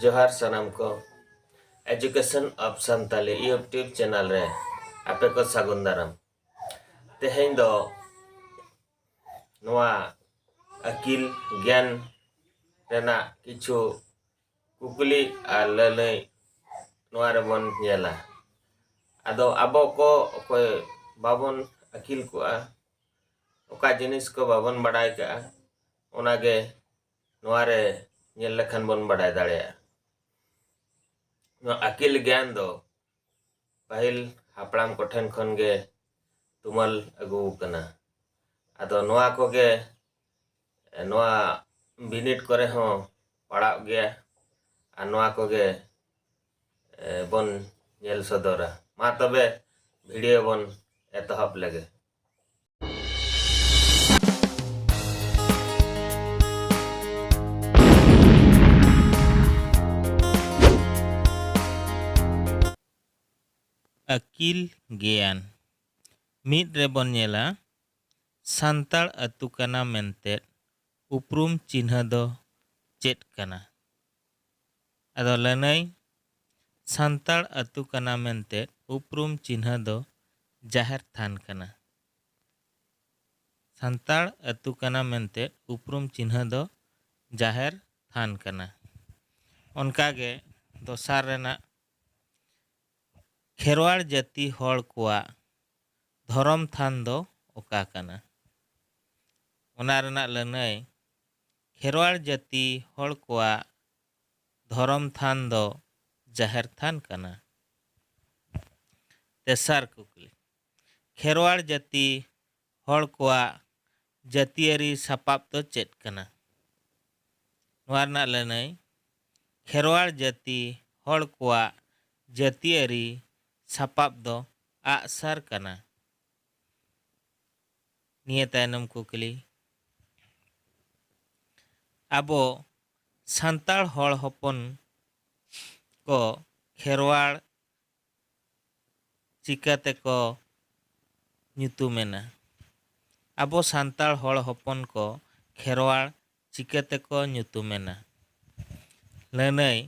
ᱡᱚᱦᱟᱨ ᱥᱟᱱᱟᱢ ᱠᱚ education of Santali YouTube channel ᱨᱮ ᱟᱯᱮ ᱠᱚ ᱥᱟᱹᱜᱩᱱ ᱫᱟᱨᱟᱢ ᱛᱮᱦᱮᱧ ᱫᱚ ᱱᱚᱣᱟ ᱟᱹᱠᱤᱞ ᱜᱮᱭᱟᱱ ᱨᱮᱱᱟᱜ ᱠᱤᱪᱷᱩ ᱠᱩᱠᱞᱤ ᱟᱨ ᱞᱟᱹᱞᱟᱹᱭ ᱱᱚᱣᱟ ᱨᱮᱵᱚᱱ ᱧᱮᱞᱟ ᱟᱫᱚ ᱟᱵᱚ ᱠᱚ ᱚᱠᱚᱭ ᱵᱟᱵᱚᱱ ᱟᱹᱠᱤᱞ ᱠᱚᱜᱼᱟ ᱚᱠᱟ ᱡᱤᱱᱤᱥ ᱠᱚ ᱵᱟᱵᱚᱱ ᱵᱟᱰᱟᱭ ᱠᱟᱜᱼᱟ ᱚᱱᱟᱜᱮ ᱱᱚᱣᱟ ᱨᱮ ᱧᱮᱞ ᱞᱮᱠᱷᱟᱱ ᱵᱚᱱ ᱵᱟᱰᱟᱭ ᱫᱟᱲᱮᱭᱟᱜᱼᱟ ᱱᱚᱣᱟ ᱟᱹᱠᱤᱞ ᱜᱮᱭᱟᱱ ᱫᱚ ᱯᱟᱹᱦᱤᱞ ᱦᱟᱯᱲᱟᱢ ᱠᱚᱴᱷᱮᱱ ᱠᱷᱚᱱ ᱜᱮ ᱛᱩᱢᱟᱹᱞ ᱟᱹᱜᱩ ᱟᱠᱟᱱᱟ ᱟᱫᱚ ᱱᱚᱣᱟ ᱠᱚᱜᱮ ᱱᱚᱣᱟ ᱵᱤᱱᱤᱰ ᱠᱚᱨᱮ ᱦᱚᱸ ᱯᱟᱲᱟᱜ ᱜᱮᱭᱟ ᱟᱨ ᱱᱚᱣᱟ ᱠᱚᱜᱮ ᱵᱚᱱ ᱧᱮᱞ ᱥᱚᱫᱚᱨᱟ ᱢᱟ ᱛᱚᱵᱮ ᱵᱷᱤᱰᱤᱭᱳ ᱵᱚᱱ ᱮᱛᱚᱦᱚᱵ ᱞᱮᱜᱮ ᱟᱹᱠᱤᱞ ᱜᱮᱭᱟᱱ ᱢᱤᱫ ᱨᱮᱵᱚᱱ ᱧᱮᱞᱟ ᱥᱟᱱᱛᱟᱲ ᱟᱹᱛᱩ ᱠᱟᱱᱟ ᱢᱮᱱᱛᱮ ᱩᱯᱨᱩᱢ ᱪᱤᱱᱦᱟᱹ ᱫᱚ ᱪᱮᱫ ᱠᱟᱱᱟ ᱟᱫᱚ ᱞᱟᱹᱱᱟᱹᱭ ᱥᱟᱱᱛᱟᱲ ᱟᱹᱛᱩ ᱠᱟᱱᱟ ᱢᱮᱱᱛᱮ ᱩᱯᱨᱩᱢ ᱪᱤᱱᱦᱟᱹ ᱫᱚ ᱡᱟᱦᱮᱨ ᱛᱷᱟᱱ ᱠᱟᱱᱟ᱾ ᱥᱟᱱᱛᱟᱲ ᱟᱹᱛᱩ ᱠᱟᱱᱟ ᱢᱮᱱᱛᱮ ᱩᱯᱨᱩᱢ ᱪᱤᱱᱦᱟᱹ ᱫᱚ ᱡᱟᱦᱮᱨ ᱛᱷᱟᱱ ᱠᱟᱱᱟ᱾ ᱚᱱᱠᱟ ᱜᱮ ᱫᱚᱥᱟᱨ ᱨᱮᱱᱟᱜ ᱠᱷᱮᱨᱣᱟᱲ ᱡᱟᱹᱛᱤ ᱦᱚᱲ ᱠᱚᱣᱟᱜ ᱫᱷᱚᱨᱚᱢ ᱛᱷᱟᱱ ᱫᱚ ᱚᱠᱟ ᱠᱟᱱᱟ? ᱚᱱᱟ ᱨᱮᱱᱟᱜ ᱞᱟᱹᱱᱟᱹᱭ ᱠᱷᱮᱨᱣᱟᱲ ᱡᱟᱹᱛᱤ ᱦᱚᱲ ᱠᱚᱣᱟᱜ ᱫᱷᱚᱨᱚᱢ ᱛᱷᱟᱱ ᱫᱚ ᱡᱟᱦᱮᱨ ᱛᱷᱟᱱ ᱠᱟᱱᱟ᱾ ᱛᱮᱥᱟᱨ ᱠᱩᱠᱞᱤ, ᱠᱷᱮᱨᱣᱟᱲ ᱡᱟᱹᱛᱤ ᱦᱚᱲ ᱠᱚᱣᱟᱜ ᱡᱟᱹᱛᱤᱭᱟᱹᱨᱤ ᱥᱟᱯᱟᱵ ᱫᱚ ᱪᱮᱫ ᱠᱟᱱᱟ? ᱱᱚᱣᱟ ᱨᱮᱱᱟᱜ ᱞᱟᱹᱱᱟᱹᱭ, ᱠᱷᱮᱨᱣᱟᱲ ᱡᱟᱹᱛᱤ ᱦᱚᱲ ᱠᱚᱣᱟᱜ ᱡᱟᱹᱛᱤᱭᱟᱹᱨᱤ ᱥᱟᱯᱟᱵ ᱫᱚ ᱟᱜ ᱥᱟᱨ ᱠᱟᱱᱟ᱾ ᱱᱤᱭᱟᱹ ᱛᱟᱭᱱᱚᱢ ᱠᱩᱠᱞᱤ, ᱟᱵᱚ ᱥᱟᱱᱛᱟᱲ ᱦᱚᱲ ᱦᱚᱯᱚᱱ ᱠᱚ ᱠᱷᱮᱨᱣᱟᱲ ᱪᱤᱠᱟᱹ ᱛᱮᱠᱚ ᱧᱩᱛᱩᱢ ᱮᱱᱟ? ᱟᱵᱚ ᱥᱟᱱᱛᱟᱲ ᱦᱚᱲ ᱦᱚᱯᱚᱱ ᱠᱚ ᱠᱷᱮᱨᱣᱟᱲ ᱪᱤᱠᱟᱹ ᱛᱮᱠᱚ ᱧᱩᱛᱩᱢ ᱮᱱᱟ? ᱞᱟᱹᱱᱟᱹᱭ,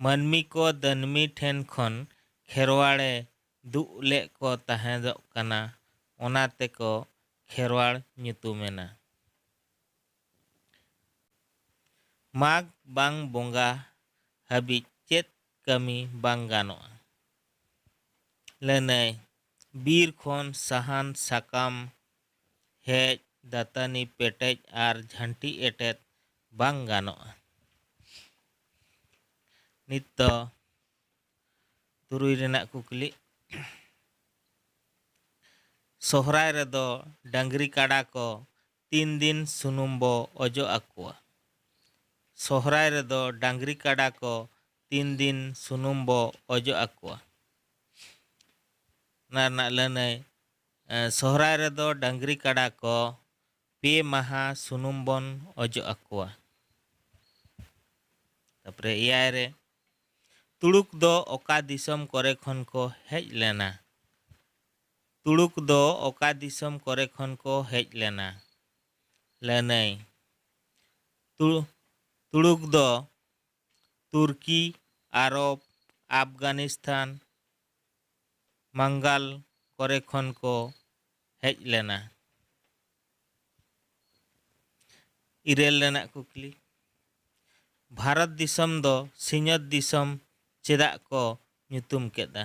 ᱢᱟᱹᱱᱢᱤ ᱠᱚ ᱫᱟᱹᱱᱢᱤ ᱴᱷᱮᱱ ᱠᱷᱚᱱ ᱠᱷᱮᱨᱣᱟᱲ ᱮ ᱫᱩᱜ ᱞᱮᱜ ᱠᱚ ᱛᱟᱦᱮᱸᱫᱚᱜ ᱠᱟᱱᱟ ᱚᱱᱟ ᱛᱮᱠᱚ ᱠᱷᱮᱨᱣᱟᱲ ᱧᱩᱛᱩᱢᱮᱱᱟ᱾ ᱢᱟᱜᱽ ᱵᱟᱝ ᱵᱚᱸᱜᱟ ᱦᱟᱹᱵᱤᱡ ᱪᱮᱫ ᱠᱟᱹᱢᱤ ᱵᱟᱝ ᱜᱟᱱᱚᱜᱼᱟ᱾ ᱞᱟᱹᱱᱟᱹᱭ ᱵᱤᱨ ᱠᱷᱚᱱ ᱥᱟᱦᱟᱱ ᱥᱟᱠᱟᱢ ᱦᱮᱡ ᱫᱟᱹᱛᱟᱹᱱᱤ ᱯᱮᱴᱮᱡ ᱟᱨ ᱡᱷᱟᱹᱱᱴᱤ ᱮᱴᱮᱫ ᱵᱟᱝ ᱜᱟᱱᱚᱜᱼᱟ᱾ ᱱᱤᱛ ᱫᱚ᱾ ᱛᱩᱨᱩᱭ ᱨᱮᱱᱟᱜ ᱠᱩᱠᱞᱤ, ᱥᱚᱦᱨᱟᱭ ᱨᱮᱫᱚ ᱰᱟᱹᱝᱨᱤ ᱠᱟᱰᱟ ᱠᱚ ᱛᱤᱱ ᱫᱤᱱ ᱥᱩᱱᱩᱢ ᱵᱚ ᱚᱡᱚᱜ ᱟᱠᱚᱣᱟ? ᱥᱚᱦᱨᱟᱭ ᱨᱮᱫᱚ ᱰᱟᱹᱝᱨᱤ ᱠᱟᱰᱟ ᱠᱚ ᱛᱤᱱ ᱫᱤᱱ ᱥᱩᱱᱩᱢ ᱵᱚ ᱚᱡᱚᱜ ᱟᱠᱚᱣᱟ? ᱚᱱᱟ ᱨᱮᱱᱟᱜ ᱞᱟᱹᱱᱟᱹᱭ, ᱥᱚᱦᱨᱟᱭ ᱨᱮᱫᱚ ᱰᱟᱹᱝᱨᱤ ᱠᱟᱰᱟ ᱠᱚ ᱯᱮ ᱢᱟᱦᱟ ᱥᱩᱱᱩᱢ ᱵᱚᱱ ᱚᱡᱚᱜ ᱟᱠᱚᱣᱟ᱾ ᱛᱟᱯᱚᱨᱮ ᱮᱭᱟᱭ ᱨᱮ, ᱛᱩᱲᱩᱠ ᱫᱚ ᱚᱠᱟ ᱫᱤᱥᱚᱢ ᱠᱚᱨᱮ ᱠᱷᱚᱱ ᱠᱚ ᱦᱮᱡ ᱞᱮᱱᱟ? ᱛᱩᱲᱩᱠ ᱫᱚ ᱚᱠᱟ ᱫᱤᱥᱚᱢ ᱠᱚᱨᱮ ᱠᱷᱚᱱ ᱠᱚ ᱦᱮᱡ ᱞᱮᱱᱟ? ᱞᱟᱹᱱᱟᱹᱭ, ᱛᱩᱲᱩᱠ ᱛᱩᱲᱩᱠ ᱫᱚ ᱛᱩᱨᱠᱤ, ᱟᱨᱚᱵᱽ, ᱟᱯᱷᱜᱟᱱᱤᱥᱛᱷᱟᱱ, ᱢᱟᱝᱜᱟᱞ ᱠᱚᱨᱮ ᱠᱷᱚᱱ ᱠᱚ ᱦᱮᱡ ᱞᱮᱱᱟ᱾ ᱤᱨᱟᱹᱞ ᱨᱮᱱᱟᱜ ᱠᱩᱠᱞᱤ ᱵᱷᱟᱨᱚᱛ ᱫᱤᱥᱚᱢ ᱫᱚ ᱥᱤᱧᱚᱛ ᱫᱤᱥᱚᱢ ᱪᱮᱫᱟᱜ ᱠᱚ ᱧᱩᱛᱩᱢ ᱠᱮᱫᱟ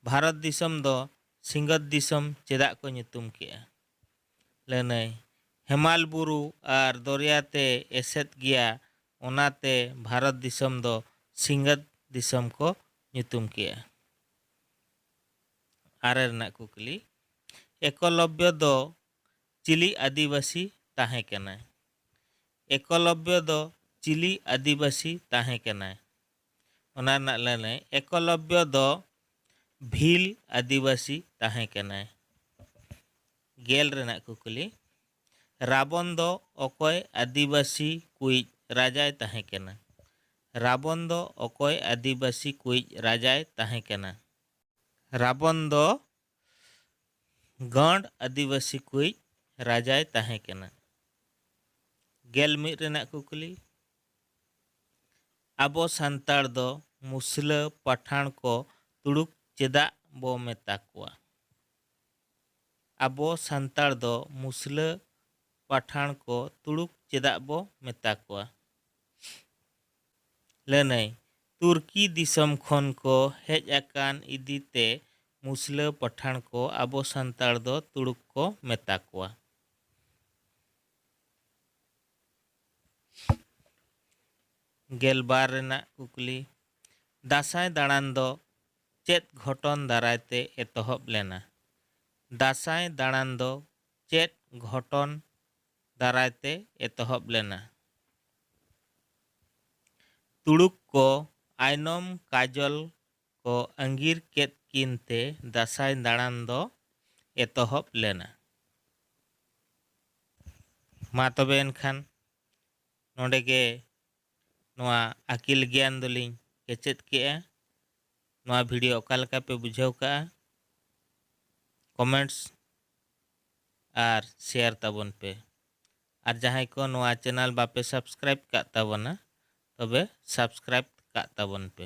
ᱵᱷᱟᱨᱚᱛ ᱫᱤᱥᱚᱢ ᱫᱚ ᱥᱤᱧᱚᱛ ᱫᱤᱥᱚᱢ ᱪᱮᱫᱟᱜ ᱠᱚ ᱧᱩᱛᱩᱢ ᱠᱮᱫᱟ ᱞᱟᱹᱱᱟᱹᱭ ᱦᱮᱢᱟᱞ ᱵᱩᱨᱩ ᱟᱨ ᱫᱚᱨᱭᱟ ᱛᱮ ᱮᱥᱮᱫ ᱜᱮᱭᱟ ᱚᱱᱟᱛᱮ ᱵᱷᱟᱨᱚᱛ ᱫᱤᱥᱚᱢ ᱫᱚ ᱥᱤᱧᱚᱛ ᱫᱤᱥᱚᱢ ᱠᱚ ᱧᱩᱛᱩᱢ ᱠᱮᱫᱟ ᱟᱨᱮ ᱨᱮᱱᱟᱜ ᱠᱩᱠᱞᱤ ᱮᱠᱚᱞᱚᱵᱽᱭᱚ ᱫᱚ ᱪᱤᱞᱤ ᱟᱹᱫᱤᱵᱟᱹᱥᱤ ᱛᱟᱦᱮᱸ ᱠᱟᱱᱟᱭ? ᱮᱠᱚᱞᱚᱵᱽᱭᱚ ᱫᱚ ᱪᱤᱞᱤ ᱟᱹᱫᱤᱵᱟᱹᱥᱤ ᱛᱟᱦᱮᱸ ᱠᱟᱱᱟᱭ? ᱚᱱᱟ ᱨᱮᱱᱟᱜ ᱞᱟᱹᱱᱟᱹᱭ, ᱮᱠᱚᱞᱚᱵᱽᱭᱚ ᱫᱚ ᱵᱷᱤᱞ ᱟᱹᱫᱤᱵᱟᱹᱥᱤ ᱛᱟᱦᱮᱸ ᱠᱟᱱᱟᱭ᱾ ᱜᱮᱞ ᱨᱮᱱᱟᱜ ᱠᱩᱠᱞᱤ, ᱨᱟᱵᱚᱱ ᱫᱚ ᱚᱠᱚᱭ ᱟᱹᱫᱤᱵᱟᱹᱥᱤ ᱠᱩᱭᱤᱡ ᱨᱟᱡᱟᱭ ᱛᱟᱦᱮᱸ ᱠᱟᱱᱟ? ᱨᱟᱵᱚᱱ ᱫᱚ ᱚᱠᱚᱭ ᱟᱹᱫᱤᱵᱟᱹᱥᱤ ᱠᱩᱭᱤᱡ ᱨᱟᱡᱟᱭ ᱛᱟᱦᱮᱸ ᱠᱟᱱᱟ? ᱨᱟᱵᱚᱱ ᱫᱚ ᱜᱟᱸᱰ ᱟᱹᱫᱤᱵᱟᱹᱥᱤ ᱠᱚᱭᱤᱡ ᱨᱟᱡᱟᱭ ᱛᱟᱦᱮᱸ ᱠᱟᱱᱟ᱾ ᱜᱮᱞ ᱢᱤᱫ ᱨᱮᱱᱟᱜ ᱠᱩᱠᱞᱤ, ᱟᱵᱚ ᱥᱟᱱᱛᱟᱲ ᱫᱚ ᱢᱩᱥᱞᱟᱹ ᱯᱟᱴᱷᱟᱬ ᱠᱚ ᱛᱩᱲᱩᱠ ᱪᱮᱫᱟᱜ ᱵᱚ ᱢᱮᱛᱟ ᱠᱚᱣᱟ? ᱟᱵᱚ ᱥᱟᱱᱛᱟᱲ ᱫᱚ ᱢᱩᱥᱞᱟᱹ ᱯᱟᱴᱷᱟᱬ ᱠᱚ ᱛᱩᱲᱩᱠ ᱪᱮᱫᱟᱜ ᱵᱚ ᱢᱮᱛᱟ ᱠᱚᱣᱟ? ᱞᱟᱹᱱᱟᱹᱭ ᱛᱩᱨᱠᱤ ᱫᱤᱥᱚᱢ ᱠᱷᱚᱱ ᱠᱚ ᱦᱮᱡ ᱟᱠᱟᱱ ᱤᱫᱤ ᱛᱮ ᱢᱩᱥᱞᱟᱹ ᱯᱟᱴᱷᱟᱬ ᱠᱚ ᱟᱵᱚ ᱥᱟᱱᱛᱟᱲ ᱫᱚ ᱛᱩᱲᱩᱠ ᱠᱚ ᱢᱮᱛᱟ ᱠᱚᱣᱟ᱾ ᱜᱮᱞ ᱵᱟᱨ ᱨᱮᱱᱟᱜ ᱠᱩᱠᱞᱤ ᱫᱟᱸᱥᱟᱭ ᱫᱟᱬᱟᱱ ᱫᱚ ᱪᱮᱫ ᱜᱷᱚᱴᱚᱱ ᱫᱟᱨᱟᱭ ᱛᱮ ᱮᱛᱚᱦᱚᱵ ᱞᱮᱱᱟ? ᱫᱟᱸᱥᱟᱭ ᱫᱟᱬᱟᱱ ᱫᱚ ᱪᱮᱫ ᱜᱷᱚᱴᱚᱱ ᱫᱟᱨᱟᱭ ᱛᱮ ᱮᱛᱚᱦᱚᱵ ᱞᱮᱱᱟ᱾ ᱛᱩᱲᱩᱠ ᱠᱚ ᱟᱭᱱᱚᱢ ᱠᱟᱡᱚᱞ ᱠᱚ ᱟᱺᱜᱤᱨ ᱠᱮᱫ ᱠᱤᱱ ᱛᱮ ᱫᱟᱥᱟᱸᱭ ᱫᱟᱬᱟᱱ ᱫᱚ ᱮᱛᱚᱦᱚᱵ ᱞᱮᱱᱟ᱾ ᱢᱟ ᱛᱚᱵᱮ ᱮᱱᱠᱷᱟᱱ ᱱᱚᱰᱮ ᱜᱮ ᱱᱚᱣᱟ ᱟᱹᱠᱤᱞ ᱜᱮᱭᱟᱱ ᱫᱚᱞᱤᱧ ᱠᱮᱪᱮᱫ ᱠᱮᱜᱼᱟ᱾ ᱱᱚᱣᱟ ᱵᱷᱤᱰᱤᱭᱳ ᱚᱠᱟ ᱞᱮᱠᱟ ᱯᱮ ᱵᱩᱡᱷᱟᱹᱣ ᱠᱟᱜᱼᱟ ᱠᱚᱢᱮᱱᱴᱥ ᱟᱨ ᱥᱮᱭᱟᱨ ᱛᱟᱵᱚᱱ ᱯᱮ᱾ ᱟᱨ ᱡᱟᱦᱟᱸᱭ ᱠᱚ ᱱᱚᱣᱟ ᱪᱮᱱᱟᱞ ᱵᱟᱯᱮ ᱥᱟᱵᱥᱠᱨᱟᱭᱤᱵ ᱠᱟᱜ ᱛᱟᱵᱚᱱᱟ ᱛᱚᱵᱮ ᱥᱟᱵᱥᱠᱨᱟᱭᱤᱵ ᱠᱟᱜ ᱛᱟᱵᱚᱱ ᱯᱮ᱾